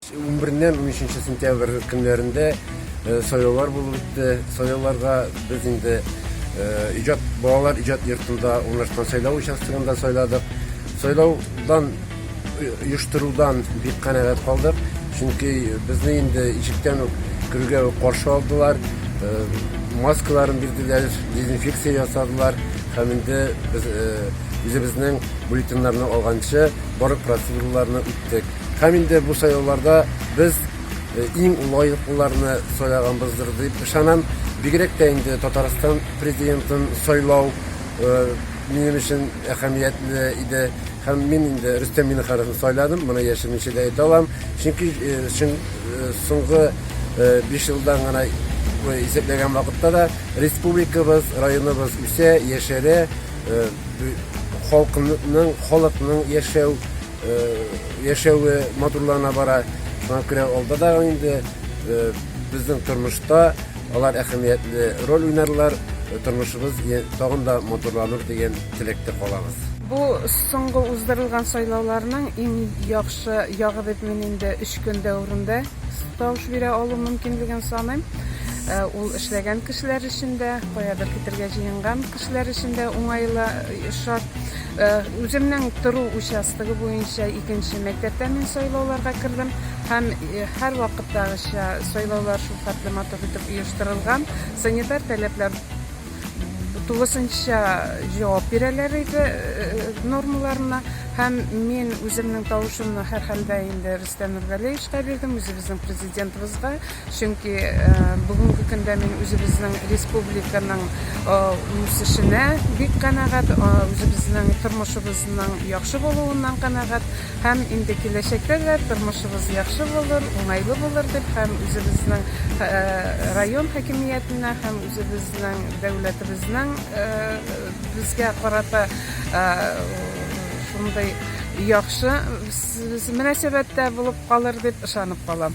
Унбереннән унөченче сентябрь көннәрендә сайлаулар булып үтте. Сайлауларга без инде иҗат балалар иҗат йортында урнашкан сайлау участогында сайладык. Сайлаудан оештырудан бик канәгать калдык, чөнки безне инде ишектән үк керүгә үк каршы алдылар, маскаларын бирделәр, дезинфекция ясадылар һәм инде без үзебезнең бюллетеньнарны алганчы барлык процедураларны киттек. Һәм инде бу сайлауларда без иң лаеклыларны сайлаганбыздыр дип ышанам. Бигрәк тә инде Татарстан президентын сайлау минем өчен әһәмиятле иде. Һәм мин инде Рөстәм Миннехановны сайладым, моны яшермичә дә әйтә алам. Чөнки соңгы 5 елдан гына исәпләгән вакытта да республикабыз, районыбыз үсә, яшәрә, халкының, халыкның яшәү яшәве матурлана бара. Шуңа күрә алда да инде безнең тормышта алар әһәмиятле роль уйнарлар, тормышыбыз тагын да матурланыр дигән теләктә калабыз. Бу соңгы уздырылган сайлауларның иң яхшы ягы дип мин инде өч көн дәверендә тавыш бирә алу мөмкинлеген саныйм. Ул эшләгән кешеләр өчен дә, каядыр китергә җыенган кешеләр өчен дә уңайлы шарт. Үземнең тору участогы буенча икенче мәктәптә мин сайлауларга кердем һәм һәрвакыттагыча сайлаулар шулхәтле матур итеп оештырылган. Санитар таләпләр тулысынча җавап бирәләр иде нормаларына һәм мин үземнең тавышымны һәрхәлдә инде Рөстәм Нургалиевичка бирдем, үзебезнең президентыбызга. Чөнки бүгенге көндә мин үзебезнең республиканың үсешенә бик канәгать, үзебезнең тормышыбызның яхшы булуыннан канәгать һәм инде киләчәктә дә тормышыбыз яхшы булыр, уңайлы булыр дип һәм үзебезнең район хакимиятенә һәм үзебезнең дәүләтебезнең безгә карата шундый яхшы Мөнәсәбәттә булып калыр дип ышанып калам.